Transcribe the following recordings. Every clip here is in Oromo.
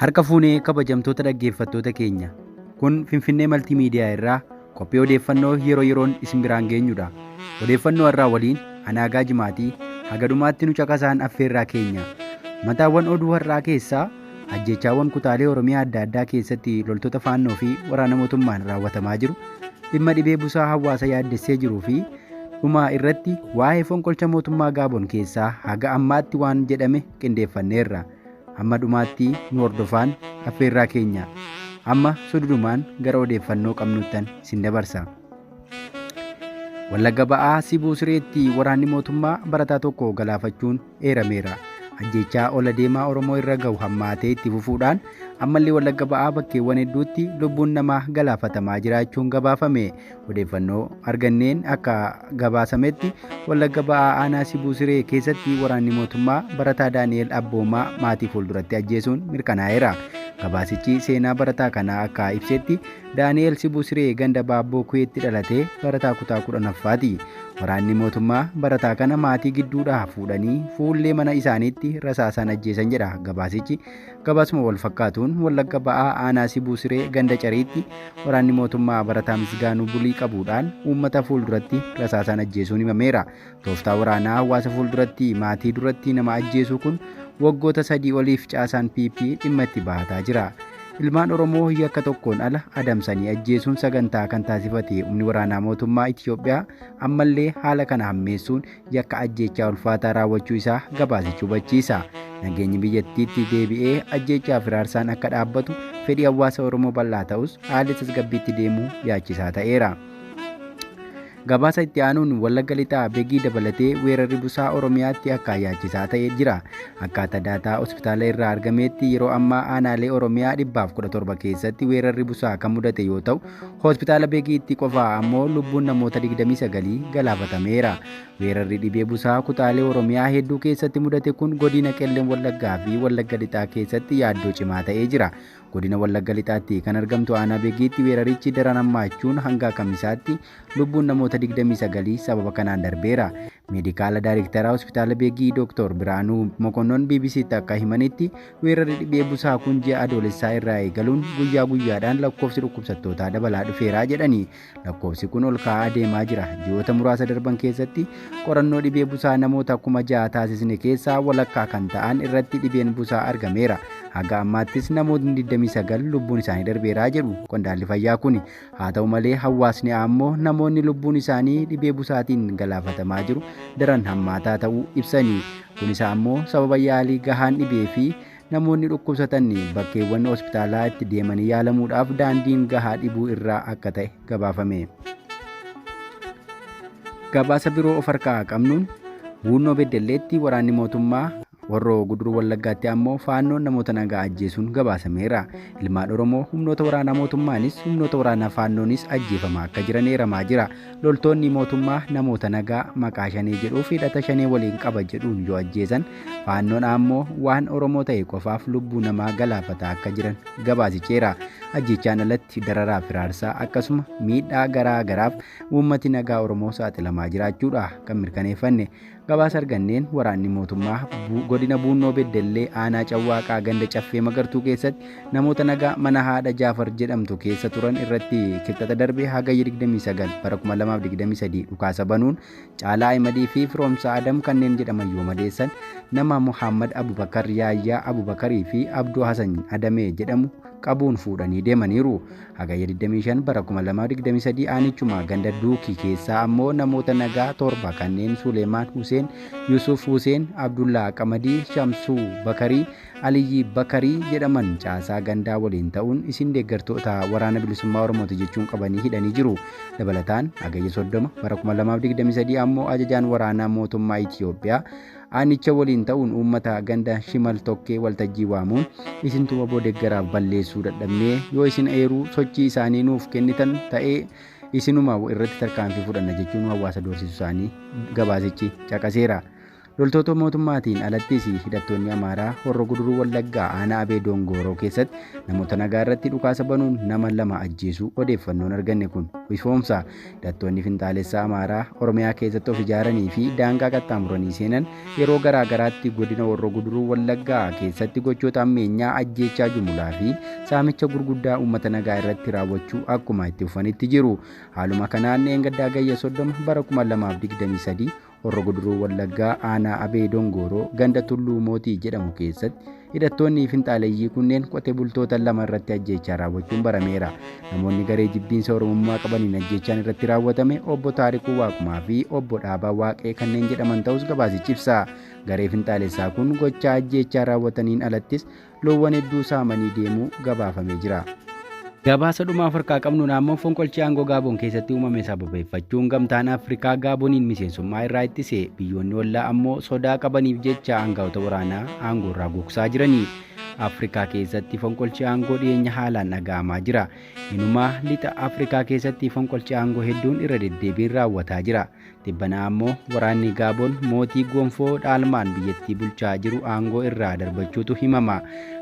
Harka fuunee kabajamtoota dhaggeeffattoota keenya. Kun Finfinnee Maltii Miidiyaa irraa qophii odeeffannoo yeroo yeroon isin biraan geenyudha. Odeeffannoo irraa waliin anaagaa jimaatii haga dhumaatti nu caqasaan affeerraa keenya. Mataawwan oduu har'aa keessaa ajjeechaawwan kutaalee Oromiyaa adda addaa keessatti loltoota faannoo fi waraana mootummaan raawwatamaa jiru, dhimma dhibee busaa hawaasa yaaddessee jiruu fi dhumaa irratti waa'ee fonqolcha mootummaa Gaabon keessaa haga ammaatti waan jedhame qindeeffanneerra. Hamma dhumaattii nu hordofaan affeerraa keenya. Amma sududumaan gara odeeffannoo qabnuttan isin dabarsa. Wallagga ba'aa Sibuu Sireetti waraanni mootummaa barataa tokko galaafachuun eerameera. Ajjeechaa ol adeemaa Oromoo irra gahu hammaatee itti fufuudhaan ammallee Wallagga ba'aa bakkeewwan hedduutti lubbuun namaa galaafatamaa jiraachuun gabaafame. Odeeffannoo arganneen akka gabaasametti Wallagga Ba'aa Aanaa Sibuu Siree keessatti waraanni mootummaa barataa Daani'eel Abboomaa maatii fuulduratti ajjeesuun mirkanaa'eera. Gabaasichi seenaa barataa kanaa akka ibsetti Daani'eel Sibuu Siree ganda Baabboo Kuweetti dhalatee barataa kutaa 10ffaati. Waraanni mootummaa barataa kana maatii gidduudhaa fuudhanii fuullee mana isaaniitti rasaasaan ajjeesan jedha gabaasichi. Gabaasuma wal fakkaatuun Wallagga Ba'aa Aanaa Sibuu Siree ganda Cariitti waraanni mootummaa barataa Misgaanuu Bulii qabuudhaan uummata fuulduratti rasaasaan ajjeesuun himameera. Tooftaa waraanaa hawaasa fuulduratti maatii duratti nama ajjeesuu kun waggoota sadii oliif caasaan PP dhimma itti bahataa jira. Ilmaan Oromoo yakka tokkoon ala adamsanii ajjeesuun sagantaa kan taasifate humni waraanaa mootummaa Itiyoophiyaa ammallee haala kana hammeessuun yakka ajjeechaa ulfaataa raawwachuu isaa gabaasichi hubachiisa. Nageenyi biyyattiitti deebi'ee ajjeechaa fi raarsaan akka dhaabbatu fedhii hawaasa Oromoo bal'aa ta'us haalli tasgabbiitti deemuu yaachisaa ta'eera. Gabaasa itti aanuun Wallagga Lixaa Begii dabalatee weerarri busaa Oromiyaatti akka yaachisaa ta'e jira. Akkaataa daataa hospitaala irraa argameetti yeroo ammaa aanaalee Oromiyaa 117 keessatti weerarri busaa kan mudate yoo ta'u, Hospitaala Begiitti qofa ammoo lubbuun namoota 29 galaafatameera. Weerarri dhibee busaa kutaalee Oromiyaa hedduu keessatti mudate kun godina Qellem Wallaggaa fi Wallagga Lixaa keessatti yaaddoo cimaa ta'ee jira. Godina Wallagga Lixaatti kan argamtu aanaa Begiitti weerarichi daran hammaachuun hanga kamisaatti lubbuun namoota 29 sababa kanaan darbeera. Meedikaala Daayrektaraa Hospitaala Begii Dr. Biraanuu Mokonnon BBC'tti akka himanitti Weerarri dhibee busaa kun ji'a adoolessaa irraa eegaluun guyyaa guyyaadhaan lakkoofsi dhukkubsattootaa dabalaa dhufeeraa jedhani. Lakkoofsi kun ol ka'aa adeemaa jira. Ji'oota muraasa darban keessatti qorannoo dhibee busaa namoota kuma ja'a taasisne keessaa walakkaa kan ta'an irratti dhibeen busaa argameera. Haga ammaattis namootni 29 lubbuun isaanii darbeeraa jedhu qondaalli fayyaa kuni. Haa ta'u malee hawaasni ammoo namoonni lubbuun isaanii dhibee busaatiin galaafatamaa jiru daran hammaataa ta'uu ibsanii kunis ammoo sababa yaalii gahaan dhibee fi namoonni dhukkubsatan bakkeewwan hospitaalaa itti deemanii yaalamuudhaaf daandiin gahaa dhibuu irraa akka ta'e gabaafame. Gabaasa biroo of harkaa qabnuun Buunnoo Beddelleetti waraanni mootummaa Horroo Guduruu Wallaggaatti ammoo faannoon namoota nagaa ajjeesuun gabaasameera. Ilmaan Oromoo humnoota waraanaa mootummaanis humnoota waraanaa faannoonis ajjeefamaa akka jiran eeramaa jira. Loltoonni mootummaa namoota nagaa maqaa shanee jedhuuf hidhata shanee waliin qaba jedhuun yoo ajjeesan faannoon ammoo waan Oromoo ta'e qofaaf lubbuu namaa galaafataa akka jiran gabaasicheera. Ajjeechaan alatti dararaa firaarsaa akkasuma miidhaa garaa garaaf uummati nagaa Oromoo saaxilamaa jiraachuudha kan mirkaneeffanne. Gabaasa arganneen waraanni mootummaa Bu- godina Buunnoo Beddellee aanaa Cawwaaqaa ganda Caffee Magartuu keessatti namoota nagaa mana haadha Jaafar jedhamtu keessa turan irratti kibxata darbe hagayya 29 bara 2023 dhukaasa banuun Caalaa Ahimadii fi Firoomsaa Adam kanneen jedhaman yoo madeessan nama Muhammad Abubakar Yaayyaa Abubakarii fi Abduu Hasan Adamee jedhamu qabuun fuudhanii deemaniiru. Hagayya 25 bara 2023 aanichuma ganda Duukii keessaa ammoo namoota nagaa torba kanneen Suleemaan Huseen, Yusuf Huseen, Abdullaa Qamadii, Shamsuu Bakarii, Aliyyii Bakarii jedhaman caasaa gandaa waliin ta'uun isin deeggartoota waraana bilisummaa Oromooti jechuun qabanii hidhanii jiru. Dabalataan hagayya 30 bara 2023 ammoo ajajaan waraanaa mootummaa Itiyoophiyaa Aanicha waliin ta'uun uummata ganda Shimal Tokkee waltajjii waamuun isintu waboo deggaraaf balleessuu dadhabnee yoo isin eeruu sochii isaanii nuuf kennitan ta'ee isinuma irratti tarkaanfii fudhanna jechuun hawaasa doorsisuu isaanii gabaasichi caqaseera. Loltoota mootummaatiin alattis hidhattoonni Amaaraa Horro Guduruu Wallaggaa aanaa Abee Doongooroo keessatti namoota nagaa irratti dhukaasa banuun nama lama ajjeesuu odeeffannoon arganne kun ifoomsa. Hidhattoonni finxaalessaa Amaaraa Oromiyaa keessatti of ijaaranii fi daangaa qaxxaamuranii seenan yeroo garaa garaatti godina Horroo Guduruu Wallaggaa keessatti gochoota ammeenyaa ajjeechaa jumulaa fi saamicha gurguddaa uummata nagaa irratti raawwachuu akkuma itti fufanitti jiru. Haaluma kanaan dheengaddaa gayya 30 bara 2023 Horro Guduruu Wallaggaa aanaa Abee Dongooroo ganda Tulluu Mootii jedhamu keessatti hidhattoonni finxaaleyyii kunneen qotee bultoota lama irratti ajjeechaa raawwachuun barameera. Namoonni garee jibbiinsa Oromummaa qabaniin ajjeechaan irratti raawwatame obbo Taarikuu Waaqumaa fi obbo Dhaabaa Waaqee kanneen jedhaman ta'us gabaasichi ibsa. Garee finxaalessaa kun gochaa ajjeechaa raawwataniin alattis loowwan hedduu saamanii deemuu gabaafamee jira. Gabaasa dhumaa of harkaa qabnuun ammoo fonqolchi aangoo Gaaboon keessatti uumame sababeeffachuun gamtaan Afrikaa Gaaboniin miseensummaa irraa ittise biyyoonni ollaa ammoo sodaa qabaniif jecha aangaa'ota waraanaa aangoo irraa gogsaa jirani. Afrikaa keessatti fonqolchi aangoo dhiyeenya haalaan dhaga'amaa jira. Inumaa lixa Afrikaa keessatti fonqolchi aangoo hedduun irra deddeebiin raawwataa jira. Tibbanaa ammoo waraanni Gaaboon mootii gonfoo dhaalmaan biyyattii bulchaa jiru aangoo irraa darbachuutu himama.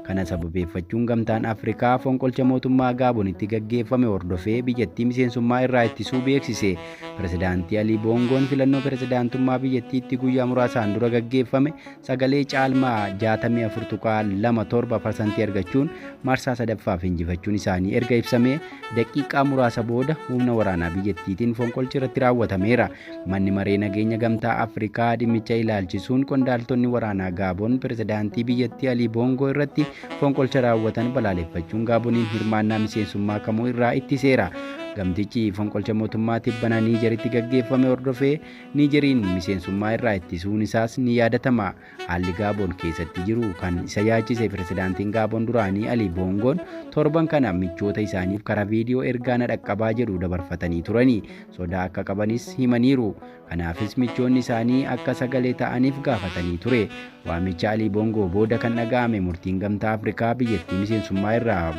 Kana sababeeffachuun gamtaan Afrikaa fonqolcha mootummaa Gaabonitti gaggeeffame hordofee biyyattii miseensummaa irraa ittisuu beeksise. Pirezidaantii Alii Boongoon filannoo pirezidaantummaa biyyattiitti guyyaa muraasaan dura gaggeeffame sagalee caalmaa 64.27 parsantii argachuun marsaa sadaffaaf injifachuun isaanii erga ibsamee daqiiqaa muraasa booda humna waraanaa biyyattiitiin fonqolchi irratti raawwatameera. Manni maree nageenya gamtaa Afrikaa dhimmicha ilaalchisuun qondaaltonni waraanaa Gaaboon pirezidaantii biyyattii Alii Boongoo irratti fonqolcha raawwatan balaaleffachuun Gaaboniin hirmaannaa miseensummaa kamuu irraa ittiseera. Gamtichi fonqolcha mootummaa tibbana Niijeritti gaggeeffame hordofee Niijeriin miseensummaa irraa ittisuun isaas ni yaadatama. Haalli Gaaboon keessatti jiru kan isa yaachise pirezidaantiin Gaaboon duraanii Ali Boongoon torban kana michoota isaaniif karaa viidiyoo ergaa na dhaqqabaa jedhu dabarfatanii turani. Sodaa akka qabanis himaniiru. Kanaafis michoonni isaanii akka sagalee ta'aniif gaafatanii ture. Waamicha Ali Boongoo booda kan dhaga'ame murtiin Gamtaa Afrikaa biyyattii miseensummaa irraa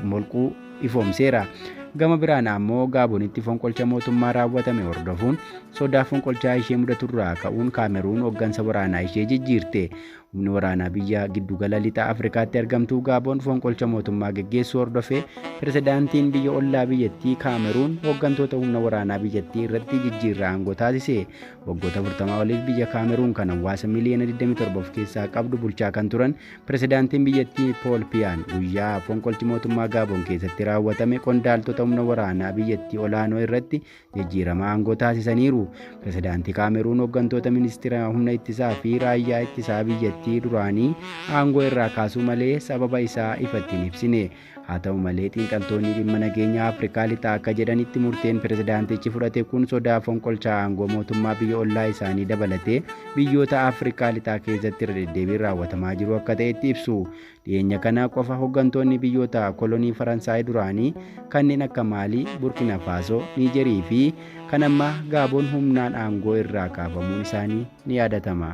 molquu ifoomseera. Gama biraan ammoo Gaabonitti fonqolcha mootummaa raawwatame hordofuun sodaa fonqolchaa ishee mudaturraa ka'uun Kaameruun hoggansa waraanaa ishee jijjiirte. Humni waraanaa biyya giddugala lixa Afrikaatti argamtuu Gaabon fonqolcha mootummaa geggeessuu hordofee pirezidaantiin biyya ollaa biyyattii Kaameruun hoggantoota humna waraanaa biyyattii irratti jijjiirraa aangoo taasise. Waggoota 40 oliif biyya Kaameruun kan hawaasa miliyoona 27 of keessaa qabdu bulchaa kan turan Pirezidaantiin biyyattii Pool Piyaan guyyaa fonqolchi mootummaa Gaaboon keessatti raawwatame qondaaltota humna waraanaa biyyattii olaanoo irratti jijjiirama aangoo taasisaniiru. Pirezidaantii Kaameruun hooggantoota ministeera humna ittisaa fi raayyaa ittisaa biyyattii duraanii aangoo irraa kaasuu malee sababa isaa ifatti hin ibsine. Haa ta'u malee xiinxaltoonni dhimma nageenyaa Afrikaa Lixaa akka jedhanitti murteen pirezidaantichi fudhate kun sodaa fonqolchaa aangoo mootummaa biyya ollaa isaanii dabalatee biyyoota Afrikaa Lixaa keessatti irra deddeebiin raawwatamaa jiru akka ta'etti ibsu. Dhiyeenya kana qofa hoggantoonni biyyoota kolonii Faransaay duraanii kanneen akka Maalii, Burkina Faasoo, Niijerii fi kan ammaa Gaaboon humnaan aangoo irraa kaafamuun isaanii ni yaadatama.